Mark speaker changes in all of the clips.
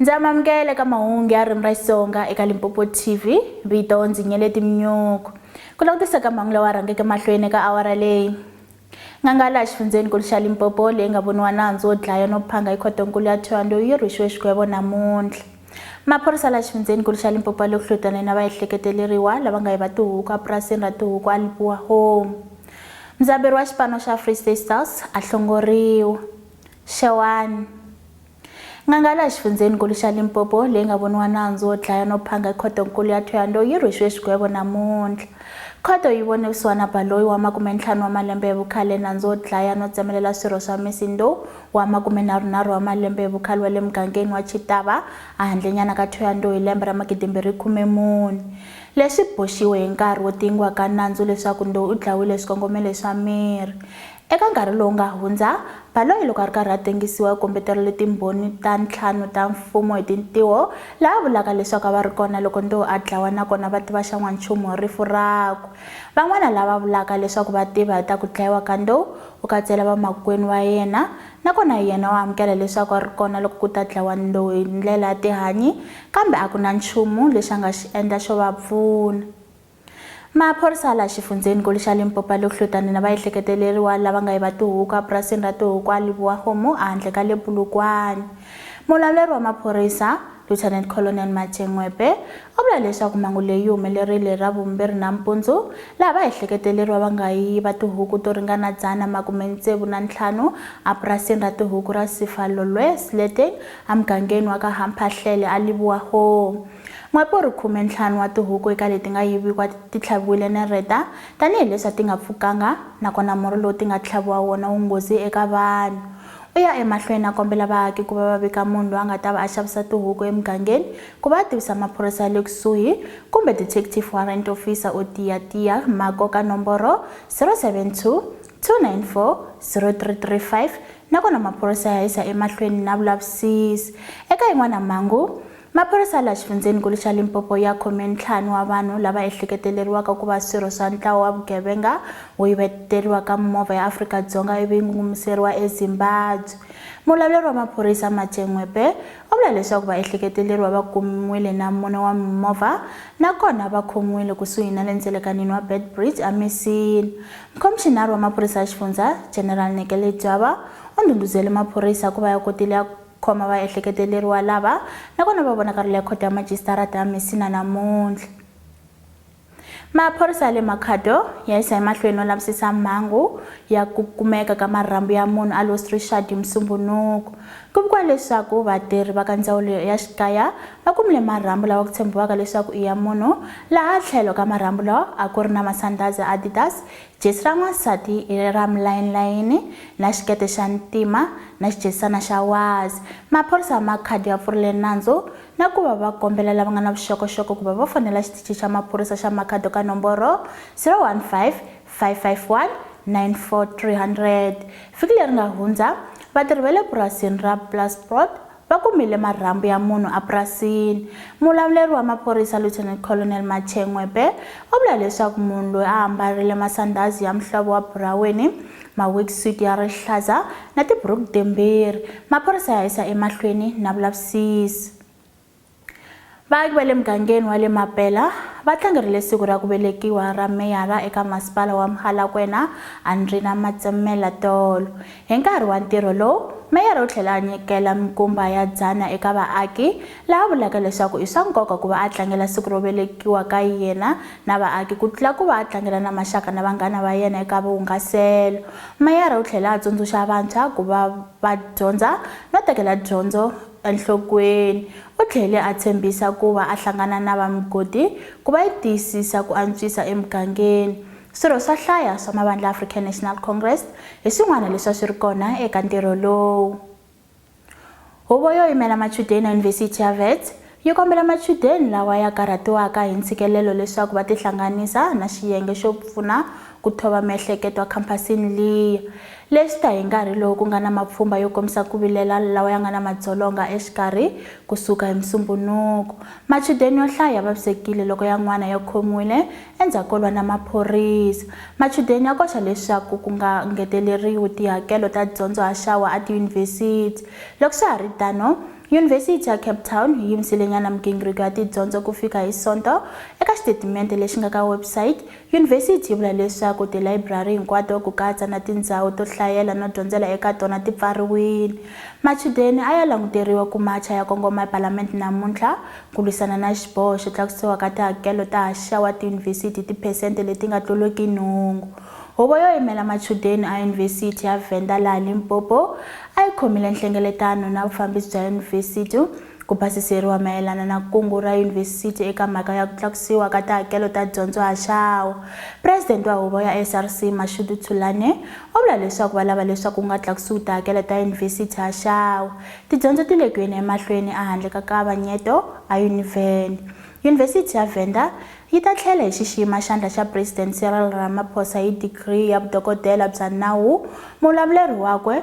Speaker 1: Ndzi amamukela eka mahungu ya ririmi ra Xitsonga eka Limpopo TV. Vito ndzi Nyeleti Mnyuku. Ku langutisa ka mahungu lawa rhangeke mahlweni eka awara leyi. N'anga laha xifundzhenikulu xa Limpopo leyi nga voniwa nandzu wo dlaya no phanga hi khotonkulu ya Thohoyandou yi rhwexiwe xigwevo namuntlha. Maphorisa laha xifundzhenikulu xa Limpopo ya le ku hlotaneni na vaehleketeleriwa lava nga yiva tihuku epurasini ra tihuku eLipoua Home. Mudzaberi wa xipano xa Free State Stars a hlongoriwa. Xewani. N'anga laha xifundzheni-nkulu xa Limpopo leyi nga voniwa nandzu wo dlaya no phanga khoto-nkulu ya Thohoyandou yi rhwexiwe xigwevo namuntlha. Khoto yi vone vusiwana Baloyi wa makume-ntlhanu wa malembe hi vukhale, nandzu wo dlaya no tsemelela swirho swa Misi Ndou wa makume-nharhu-nharhu wa malembe hi vukhale wa le mugangeni wa Chitaba a handlenyana ka Thohoyandou hi lembe ra magidi-mbirhi-khume-mune. Leswi boxiwe hi nkarhi wo tingiwa ka nandzu leswaku Ndou u dlayiwile hi swikongomelo swa miri. Eka nkarhi lowu nga hundza, Baloyi loko a ri karhi a tengisiwa u kombeterile Timbhoni ta ntlhanu ta Mfumo hi tintiho, laha a vulaka leswaku a va ri kona loko Ndou a dlawa nakona va tiva xa n'wanchumu hi rifu rakwe. Van'wana lava vulaka leswaku va tiva hi ta ku dlayiwa ka Ndou, u katsela vamakwenu va yena, nakona yena u amukela leswaku a ri kona loko ku ta dlawa Ndou hi ndlela ya tihanyi, kambe a ku na nchumu lexi a nga xi endla xo va pfuna. Maphorisa la xifundzheni-nkulu xa Limpopo ya le Kuhlutani na vaehleketeleriwa lava nga yiva tihuku a purasini ra tihuku a Libuwa Kgomo a handle ka le Polokwane. Mulawuleri wa maphorisa, Lieutenant Colonel Mache Ngwepe, u vula leswaku mhangu leyi yi humelerile hi Ravumbirhi nampundzu laha vaehleketeleriwa va nga yiva tihuku to ringana dzana makume tsevu na ntlhanu a purasini ra tihuku ra Sifalolwe Sleteng a mugangeni wa ka Hamphahlele a Libuwa Kgomo. N'wapori khume ntlhanu wa tihuku eka leti nga yiviwa ti tlhaviwile nereta, tanihi leswi a ti nga pfukanga, nakona murhi lowu ti nga tlhaviwa wona wu nghozi eka vanhu. U ya emahlweni a kombela vaaki ku va va vika munhu loyi a nga ta va a xavisa tihuku emugangeni ku va a tivisa maphorisa ya le kusuhi, kumbe Detective Warrant Officer o tiya tiya ma koka nomboro 072 294 0335 nakona maphorisa ya yisa emahlweni na vulavisisi. Eka yin'wana mhangu, Maphorisa laha xifundzheni-nkulu xa Limpopo ya khome ntlhanu wa vanhu lava ehleketeleriwaka ku va swirho swa ntlawa wa vugevenga wo yiveteriwa ka mimovha ya Afrika-Dzonga ivi yi ngungumiseriwa eZimbabwe. Mulawuleri wa maphorisa, Mache Ngwepe, u vula leswaku vaehleketeleriwa va kumiwile na mune wa mimovha nakona va khomiwile kusuhi na le ndzelekanini wa Beitbridge eMisini. Mukhomixinari wa maphorisa ya xifundzha, General Nekele Dyaba, u ndhundhuzele maphorisa ku va ya kotile ya khoma vaehleketeleriwa lava nakona va vonakarile ekhoto ya majisitarata ya Messina namuntlha. Maphorisa ya le Makhado ya yisa emahlweni no lavisisa mhangu ya ku kumeka ka marhambu ya munhu a Lost Richard hi Musumbunuku. Ku vikiwa leswaku vatirhi va ka ndzawulo ya xikaya va kumile marhambu lawa ku tshembiwaka leswaku i ya munhu laha tlhelo ka marhambu lawa a ku ri na masandhazi ya Adidas Jesi ra n'wansati i leri ra mulayinilayini na xikete xa ntima na xijesisana xa wazi. Maphorisa ma khadi ya pfurile nandzu na ku va va kombela lava nga na vuxokoxoko ku va va fonela Xitichi xa Maphorisa xa Makhado ka nomboro 015-551-94300. Vhiki leri nga hundza, vatirhi va le purasini ra Plasprot Va kumile marhambu ya munhu epurasini. Muvulavuleri wa maphorisa Lieutenant Colonel Mathe Ngwepe u vula leswaku munhu loyi a ambarile masandhazi ya muhlovo wa buraweni, ma-worksuit ya rihlaza na tiburuku timbirhi. Maphorisa ya yisa emahlweni na vulavisisi. Vaaki va le mugangeni wa le Mapela va tlangerile siku ra ku velekiwa ra meyara eka masipala wa Mhalakwena, Andrina Matsemmela tolo. Hi nkarhi wa ntirho lowu, meyara u tlhele a nyikela minkumba ya dzana eka vaaki, laha a vulaka leswaku i swa nkoka ku va a tlangela siku ro velekiwa ka yena na vaaki ku tlula ku va a tlangela na maxaka na vanghana va yena eka vuhungaselo. Meyara u tlhele a tsundzuxa vantshwa ku va va dyondza no tekela dyondzo Enhlokweni, u tlhele a tshembisa ku va a hlangana na va migodi ku va yi tiyisisa ku antswisa emugangeni. Swirho swa hlaya swa mavandla ya African National Congress hi swin'wana leswi a swi ri kona eka ntirho lowu. Huvo yo Yimela Machudeni ya Yunivhesiti ya Wits yi kombela machudeni lawa ya karhatiwaka hi ntshikelelo leswaku va tihlanganisa na xiyenge xo pfuna ku thova miehleketo ekhampasini liya, leyi swi ta hi nkarhi lowu ku nga na mapfhumba yo kombisa ku vilela lawa ya nga na madzolonga exikarhi ku suka hi Musumbunuko. Machudeni yo hlaya ya vavisekile loko yan'wana ya khomiwile endzhaku ko lwa na maphorisa. Machudeni ya koxa leswaku ku nga ngeteleriwi tihakelo ta dyondzo haxawa etiyunivhesiti. Loko swa ha ri tano, Yunivhesiti ya Cape Town yi yimisilenyana migingiriko ya tidyondzo ku fika hi Sonto, eka xitetimente lexi nga ka website Yunivhesiti yi vula leswaku tilayiburari hinkwato ku katsa na tindzawu to hlayela no dyondzela eka tona ti pfariwile. Machudeni a ya languteriwa ku macha ya kongoma ePalamende namuntlha ku lwisana na xiboho xo tlakusiwa ka tihakelo ta haxa wa tiyunivhesiti hi tiphesente leti nga tluliki nhungu. Huvo yo Yimela Machudeni a Yunivhesiti ya Venda laha Limpopo a yi khomile nhlengeletano na vufambisi bya yunivhesiti, Ku basiseriwa mayelana na kungu ra yunivhesiti eka mhaka ya ku tlakusiwa ka tihakelo ta dyondzo haxawu. President wa huvo ya SRC, Mashudu Thulane, u vula leswaku va lava leswaku ku nga tlakusiwi tihakelo ta yunivhesiti haxawu. Tidyondzo ti le ku yeni emahlweni a handle ka kavanyeto aUniven. Yunivhesiti ya Venda yi ta tlhela hi xixima xandla xa President Cyril Ramaphosa hi digri ya vudokodela bya nawu, muvulavuleriwakwe,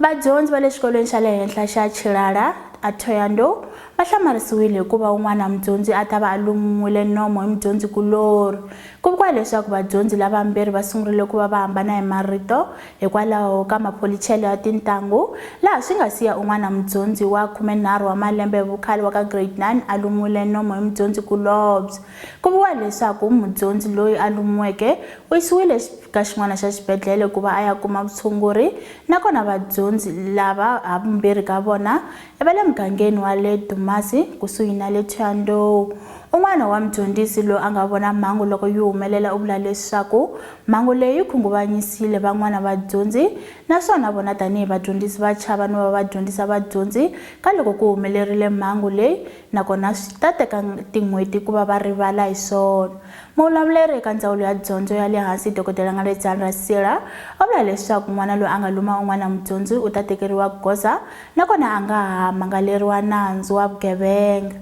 Speaker 1: Vadyondzi va le xikolweni xa le henhla xa Chilala a Thoyando va hlamarisiwile hikuva un'wana mudyondzi a ta va a lumiwile nomo hi mudyondzi kulorhi. Ku vikiwa leswaku vadyondzi lavambirhi va sungurile ku va va hambana hi marito hikwalaho ka mapholichelo ya tintangu laha swi nga siya un'wana mudyondzi wa khumenharhu wa malembe hi vukhale wa ka grade 9 a lumiwile nomo hi mudyondzi kulobye. Ku vuriwa leswaku mudyondzi loyi a lumiweke u yisiwile ka xin'wana xa xibedlhele ku va a ya kuma vutshunguri nakona vadyondzi lava havumbirhi ka vona i va le mugangeni wa le Dumasi kusuhi na le Thuandou. Un'wana wa mudyondzisi loyi a nga vona mhangu loko yi humelela u vula leswaku mhangu leyi yi khunguvanyisile van'wana vadyondzi naswona vona tanihi vadyondzisi va chava no va va dyondzisa vadyondzi ka loko ku humelerile mhangu leyi nakona swi ta teka tin'hweti ku va va rivala hi swona. Muvulavuleri eka Ndzawulo ya Dyondzo ya le Hansi, Dokodela Ngaledzani Rasira, va vula leswaku n'wana loyi a nga luma un'wana mudyondzi u ta tekeriwa goza nakona a nga ha mangaleriwa nandzu wa vugevenga.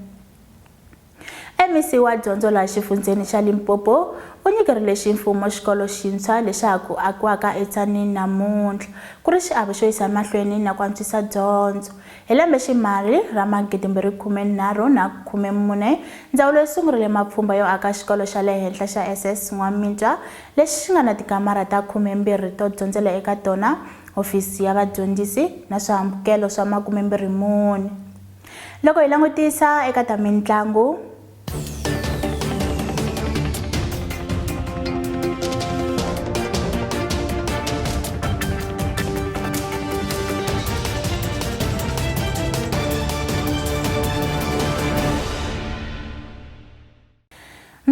Speaker 1: MEC wa Dyondzo laha xifundzheni xa Limpopo u nyikerile ximfumo xikolo xintshwa lexi ha ku akiwaka eTshanini namuntlha ku ri xiave xo yisa emahlweni na ku antswisa dyondzo Hi lembe-ximali ra magidi-mbirhi-khume-nharhu na khume-mune, ndzawulo yi sungurile mapfhumba yo aka xikolo xa le henhla xa SS N'wamitwa lexi xi nga na tikamara ta khume-mbirhi to dyondzela eka tona, hofisi ya vadyondzisi na swihambukelo swa makume-mbirhi-mune. Loko hi langutisa eka ta mintlangu,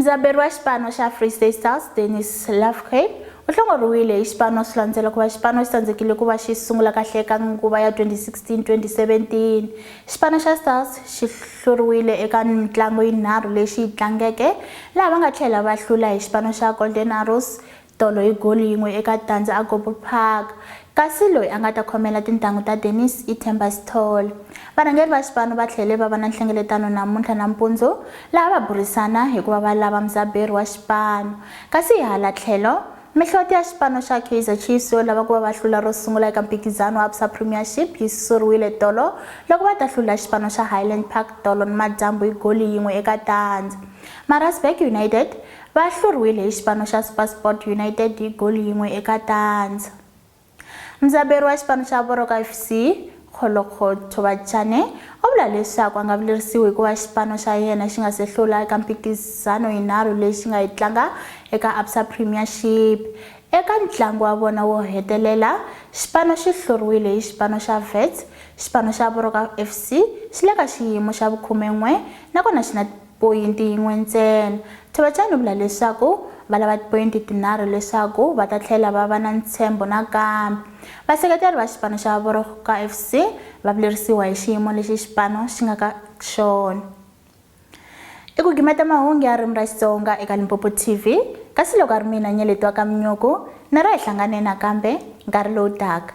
Speaker 1: mudzaberi wa xipano xa free state stars dennis lafke u hlongoriwile hi xipano swi landzela ku va xipano xi tsandzekile ku va xi sungula kahle eka nguva ya 2016-2017 Xipano xa Stars xi hluriwile eka mitlangu yinharhu leyi xi yi tlangeke, laha va nga tlhela va hlula hi xipano xa Golden Arrows tolo hi goli yin'we eka tandza eGobo Park, kasi loyi a nga ta khomela tintanghu ta Dennis i Themba Sithole. Varhangeri va xipano va tlhele va va na nhlengeletano namuntlha nampundzu, laha va burisana hi ku va va lava mudzaberi wa xipano, kasi hi hala tlhelo, Mihloti ya xipano xa Kaizer Chiefs yo lava ku va va hlula ro sungula eka mphikizano wa Absa Premiership yi susuriwile tolo loko va ta hlula xipano xa Highland Park tolo nimadyambu hi goli yin'we eka tandza. Maritzburg United va hluriwile hi xipano xa SuperSport United hi goli yin'we eka tandza. Mudzaberi wa xipano xa Voroka FC, Kgolokgo Thobatjane, u vula leswaku a nga vilerisiwi hikuva xipano xa yena xi nga se hlula eka mphikizano yinharhu leyi xi nga yi tlanga eka Absa Premiership. Eka ntlangu wa vona wo hetelela, xipano xi hluriwile hi xipano xa Wits. Xipano xa Voroka FC xi le ka xiyimo xa vukhume-n'we nakona xi na Poyinti yin'we ntsena. Thovacani u vula leswaku va lava tipoyinti tinharhu leswaku va ta tlhela va va na ntshembo nakambe. Vaseketeri va xipano xa Voroka FC va vilerisiwa hi xiyimo lexi xipano xi nga ka xona. I ku gimeta mahungu ya ririmi ra Xitsonga eka Limpopo TV, kasi loko a ri mina Nyeletwa Kamnyuku, na ra hi hlangane nakambe nkarhi lowu taka.